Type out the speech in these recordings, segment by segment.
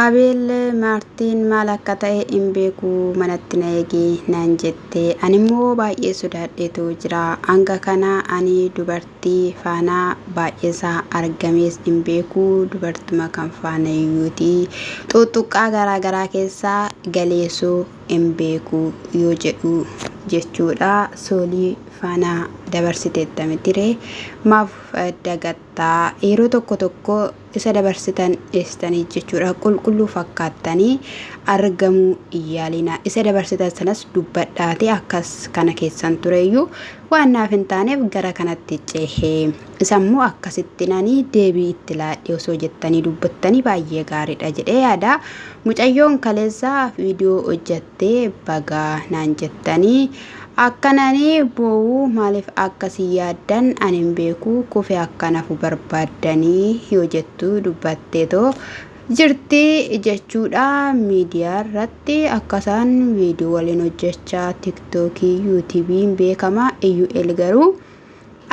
Abeel, Maartiin maal akka ta'e hin beeku, manatti na eegi naan jette. Animmoo baay'ee sodaadheetu jira. Hanga kana ani dubartii faana baay'eesaa argamees hin beeku, dubartuma kan faanayyuuti. Xuuxxuqqaa garaa garaa keessa galeesu hin beeku yoo jedhu jechuudha. Soolii faana dabarsiteetta mitire maaf dagatta? Yeroo tokko tokko isa dabarsitan dhiistanii jechuudha qulqulluu fakkaattanii argamuu hin yaalinaa isa dabarsitan sanas dubbadhaati akkas kana keessan tureyyuu waan naaf hin taaneef gara kanatti cehe isammoo akkasitti nanii deebii itti laadhee osoo jettanii dubbattanii baay'ee gaariidha jedhee yaada mucayyoon kaleessa viidiyoo hojjattee bagaa naan jettanii Akkan ani boo'u maaliif akka si yaaddan ani hin beeku kufe akkan hafu barbaaddanii yoo jettu dubbatteetoo jirti jechuudha miidiyaarratti akkasaan viidiyoo waliin hojjechaa tiktookii yuutiibiin beekama iyyu'el garuu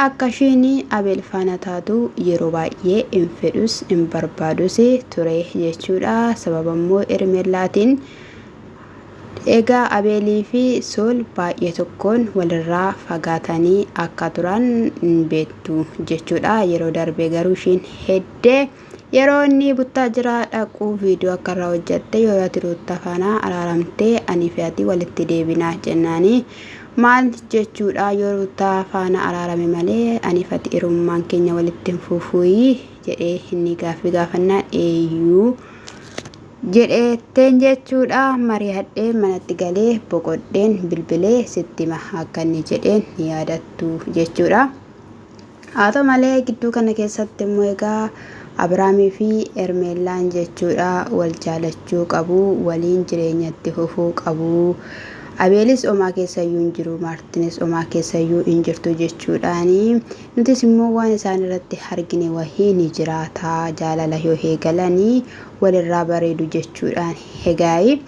Akka isheen Abeel faana taatu yeroo baay'ee hin fedhus hin barbaadus ture jechuudha. Sababa immoo Hermeellaatiin egaa Abeelii fi Sool baay'ee tokkoon walirraa fagaatanii akka turan hin beektu jechuudha. Yeroo darbee garuu isheen heddee Yeroo inni buttaa jiraa dhaqu video akka irraa hojjatte yoo ati ruutta faana araaramtee ani fi ati walitti deebinaa jennaani maal jechuudha yoo ruutta faana araarame malee ani fi ati irummaan keenya walitti hin fuufuuyi jedhee inni gaaffi gaafannaan eeyyuu jedheetteen jechuudha mari'adheen manatti galee boqodheen bilbilee sittima akka inni jedheen yaadattu jechuudha. Haa ta'u malee gidduu kana keessatti immoo egaa Abiraamii fi Hermeellaan jechuudha wal jaalachuu qabu, waliin jireenya itti fufuu qabu. Abeelis omaa keessayyuu hin jiru, Maartinis omaa keessayyuu hin jirtu jechuudhaani. Nutis immoo waan isaan irratti argine wahii ni jiraata. Jaalala yoo eegalanii walirraa bareedu jechuudhaan. Egaa'ii.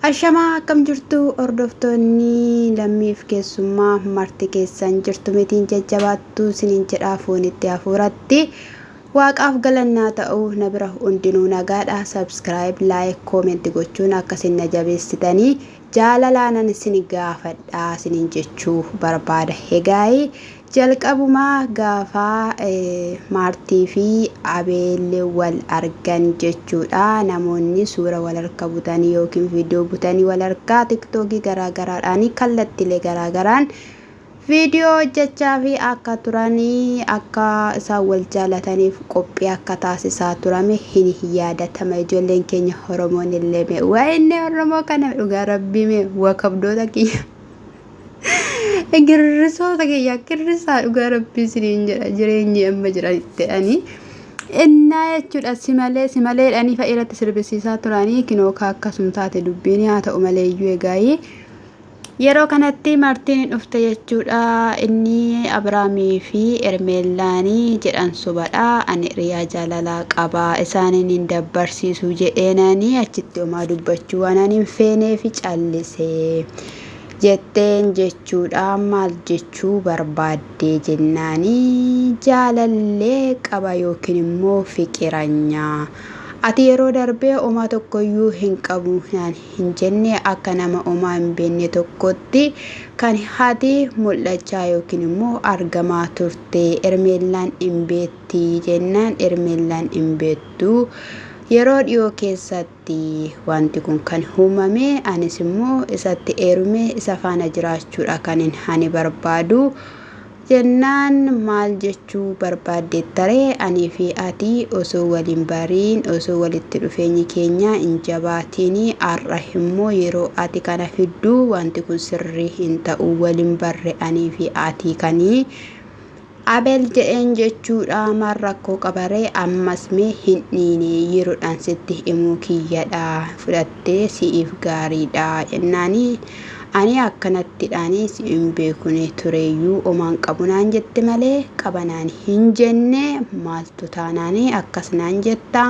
Ashamaa akkam jirtu hordoftoonni lammiif keessummaa marti keessan jirtu mitiin jajjabaattu sinin jedhaa foonitti hafuuratti waaqaaf galannaa ta'u na bira hundinuu nagaadha subscribe like comment gochuun akka sin na jabeessitanii jaalalaanan sin gaafadha sinin jechuu barbaada hegaayi Jalqabuma gaafa Maartii fi Abeel wal argan jechuudha namoonni suura wal harka butanii yookiin viidiyoo butanii wal harkaa tiktookii garaa garaadhaanii kallattilee garaa garaan viidiyoo hojjechaa fi akka turanii akka isaan wal jaalataniif qophii akka taasisaa turame hin yaadatama ijoolleen keenya Oromoon illee mee waa'inni Oromoo kana dhugaa rabbii mee waa kabdoota kiyya. Girrisoota kiyya girrisaa dhugaa rabbii siniin jedha jireenyi amma jiranitti ani innaa jechuudha simalee simalee dhanii fa'a irratti sirbisiisaa turanii kinoo kaa akkasum taate dubbiin haa ta'u malee iyyuu egaayii yeroo kanatti martiin dhufte jechuudha inni Abiraamii fi Ermeellaanii jedhan sobadha ani riyaa jaalalaa qabaa isaaniin hin dabbarsiisu jedheenanii achitti homaa dubbachuu waan ani hin feenee fi callisee. jetteen jechuudhaa maal jechuu barbaaddee jennaani jaalallee qaba yookiin immoo fiqiranyaa ati yeroo darbee omaa tokkoyyuu hin qabu naan hin jenne akka nama omaa hin beenne tokkotti kan hati mul'achaa yookiin immoo argamaa turte ermeellaan hin beetti jennaan ermeellaan hin beettu yeroo dhiyoo keessatti irratti wanti kun kan uumame anis immoo isatti eerumee isa faana jiraachuudha kanin ani barbaadu jennaan maal jechuu barbaaddeettaree anii fi ati osoo waliin bariin osoo walitti dhufeenyi keenya hin jabaatiin har'a immoo yeroo ati kana fidduu wanti kun sirrii hin ta'u waliin barre anii fi ati kanii Abel jedheen jechuudha maal rakkoo qabaree ammas mee hin dhiine yerodhaan sitti himuu kiyyadha fudhattee si'iif gaariidha jennaani ani akkanattidhaani si hin beekune tureyyuu omaan qabu naan jette malee qaba naan hin jenne maaltu taanaani akkas naan jetta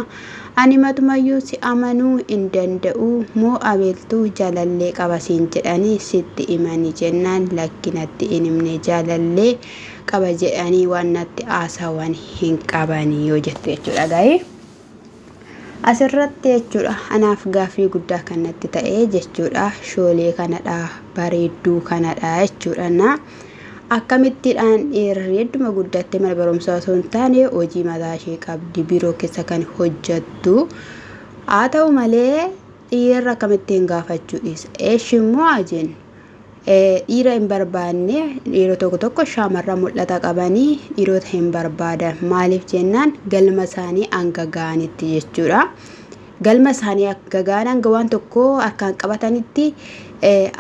ani matumayyuu si amanuu hin danda'u moo abeltu jaalallee qaba siin jedhani sitti himani jennaan lakki natti hin himne jaalallee qaba jedhanii waan natti haasawan hin qaban yoo jette jechuudha gaa'ee asirratti jechuudha anaaf gaaffii guddaa kan natti ta'e jechuudha shoolee kanadha bareedduu kanadha jechuudha na akkamittiidhaan dhiirri hedduma guddattee mana barumsaa osoo hin taane hojii mataa ishee qabdi biiroo keessa kan hojjattu haa ta'u malee dhiirri akkamittiin gaafachuu dhiisa eeshi immoo ajeen Dhiira hin barbaanne dhiirota tokko tokko shaamarran mul'ata qabanii dhiirota hin barbaadan maaliif jennaan galma isaanii hanga ga'anitti jechuudha. Galma isaanii hanga ga'an hanga waan tokko harkaan qabatanitti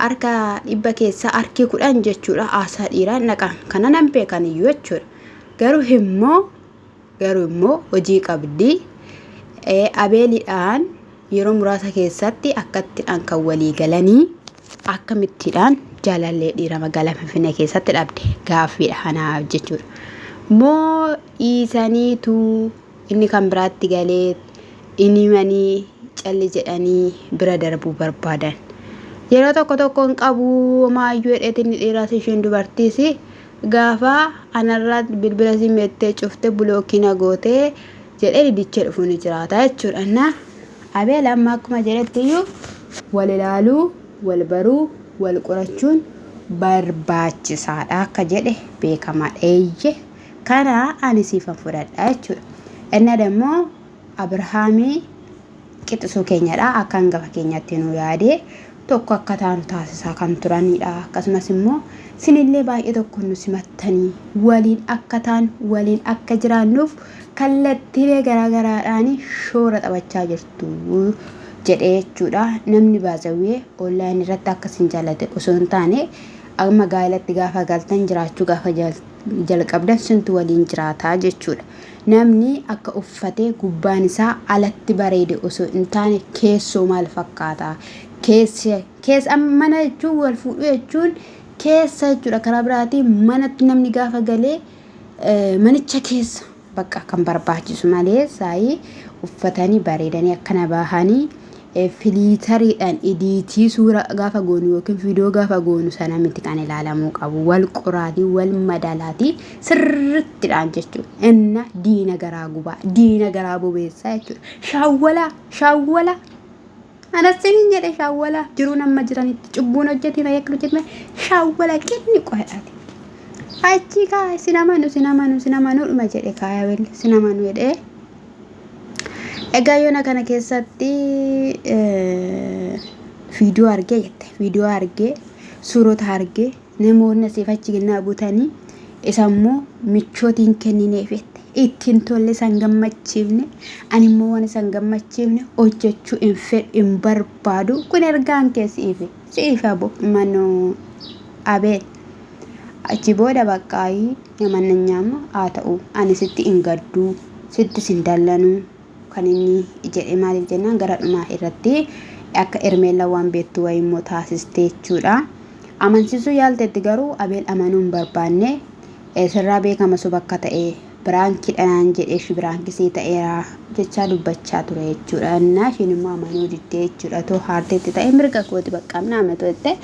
harka dhibba keessaa harki kudhan jechuudha haasaa dhiiraan dhaqan kana nan beekan iyyuu jechuudha. Garuu immoo Garuu immoo hojii qabdi. Abeelidhaan yeroo muraasa keessatti akkattidhaan kan walii galanii akkamittiidhaan jaalallee dhiira magaalaa Finfinnee keessatti dhabde gaaffiidha kanaaf jechuudha. Moo dhiisaniitu inni kan biraatti galee inni manii calli jedhanii bira darbuu barbaadan. Yeroo tokko tokko hin qabu maayyuu dheetinni dhiiraas isheen dubartiis Gafa anarra bilbila sim jette cufte block na goote jedhe didiche dhufu ni jiraata jechuudha na abeel amma akkuma jedhettiyyu wal ilaaluu wal baruu wal qorachuun barbaachisaadha akka jedhe beekamaadha eeyye kana ani siifan fudhadha jechuudha inna dammoo Abrahaami qixisuu keenyadha. Akka angafa keenyatti nuu yaadee tokko akka taanu taasisaa kan turanidha. Akkasumas immoo sinillee baay'ee tokko nu simattanii waliin akka taan waliin akka jiraannuuf kallattiilee garaa garaadhaan shoora taphachaa jirtu jedhee jechuudha. Namni baazawwee online irratti akka isin jaalate osoo hin taane amma gaa'ilatti gaafa galtan jiraachuu gaafa jalqabdan sintu waliin jiraataa jechuudha. Namni akka uffatee gubbaan isaa alatti bareede osoo hin taane keessoo maal fakkaata? Keessa, keessa amma mana jechuun wal fuudhuu jechuun keessa jechuudha. Karaa biraatiin manatti namni gaafa galee eh, manicha keessa bakka kan barbaachisu malee saayii uffatanii bareedanii akkana bahanii Filiitariidhaan idiitii suura gaafa goonu yookiin viidiyoo gaafa goonu sana miti kan ilaalamuu qabu. Wal qoraatii, wal madalaatii sirrittidhaan jechuudha. Inna diina garaa gubaa, diina garaa bobeessaa jechuudha. Shaawwalaa, shaawwalaa. Anas sinin jedhe shaawwalaa. Jiruun amma jiranitti cubbuun hojjetiin ayyakka hojjetiin shaawwalaa qinni qo'aati. Achi kaa sin amanu, sin amanu, sin amanu dhuma jedhe kaaya welle sin amanu jedhee. Egaa yoona kana keessatti viidiyoo argee jette viidiyoo argee suurota argee namoonni asiif achi kennaa butanii isa immoo michootiin kennineef jette ittiin tolle san gammachiifne ani immoo waan san gammachiifne hojjechuu hin fedhu hin barbaadu kun ergaan kee si'iifi si'iifi abo manoo abeet Achi booda baqqaayii namannanyaam haa ta'u ani sitti hin gadduu sittis hin dallanuu kan inni jedhe maaliif jennaan gara dhumaa irratti akka Ermeellaan waan beektu wayii immoo taasiste jechuudha. Amansiisuu yaalteetti garuu Abeel amanuu hin barbaanne sirraa beekama soba akka ta'e Biraankiidha naan jedhe ishi biraanki sii ta'eera jechaa dubbachaa ture jechuudha. Innaa ishiin immoo amanuu diddee jechuudha. Too haarteetti ta'e mirga kooti baqqaam naa amantu jettee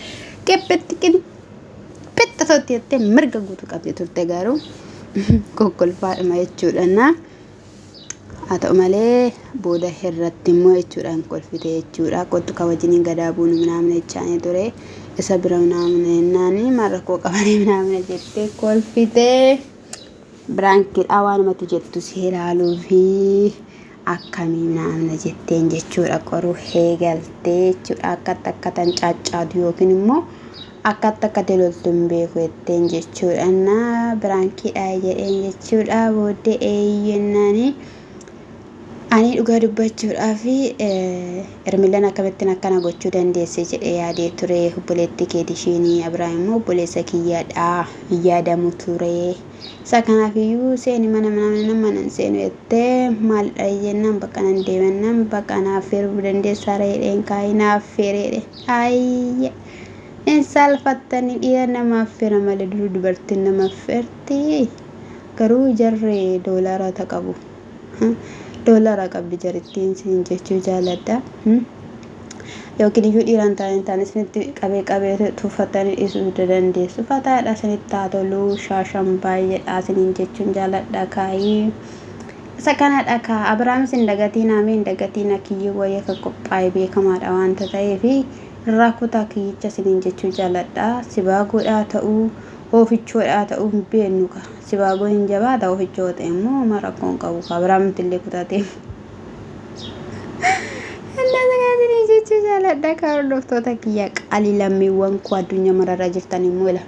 qiphitti qiphitti tootti jettee mirga guutuu qabdi turte garuu kokkolfaadhuma jechuudha. Innaa haa ta'u malee booda irratti immoo jechuudha hin kolfite jechuudha. Kottu ka wajjiniin gadaa buunu minaamina jechaanii ture. Isa bira minaamina jennaanii maal rakkoo qabanii minaamina jettee kolfite. biraankidhaa waan mati jettu si ilaaluu fi akkamii naamna jetteen jechuudha qoruu heegaltee jechuudha akkatti akka tan caaccaatu yookiin immoo akkatti akka teloltu hin beeku jetteen jechuudha na biraankidhaa jedheen jechuudha booddee eeyyennaanii Ani dhugaa dubbachuudhaaf Ermilaan akkamittiin akkana gochuu dandeesse jedhee yaadee ture. Obboleettii keeti ishiin Abiraam immoo obboleessa kiyyadha hin yaadamu ture. Isa kanaaf iyyuu seeni mana mana mana hin seenu jettee maalidha jennaan bakka nan deemannaan bakka naaf feeruu dandeessaa reedheen kaa'ee naaf feereedhe. Ayya! Hin saalfattanii dhiira namaaf feera malee duruu dubartiin namaaf feerti. Garuu jarri doolara ta qabu ha doolara qabdi jarittiin siin jechuu jaaladha hmm yookiin iyyuu dhiiraan taa'een taan isinitti qabee qabee tuffattanii dhiisuu dandeessu fataadha isinitti haa toluu shaashan baay'eedha isiniin jechuun jaaladha kaayii isa kanadha kaa abiraamis hin dagatiin haamee hin dagatiin akiyyuu wayii akka qophaa'e beekamaadha waanta ta'eefi irraa kutaa kiyyicha isiniin jechuu jaaladha sibaa godhaa ta'uu Hoofichoo dhaa ta'uu hin beennu ka. Sibaagoon hin jabaata hoofichoo yoo ta'e immoo homaa rakkoo hin qabu ka biraa mitti illee kutaatee. Ennaa sanaa isinii jechuu jaaladha ka hordoftoota kiyya qaalii lammiiwwan koo addunyaa mararra jirtan immoo ila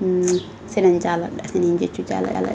sinan jaaladha isiniin jechuu jaaladha.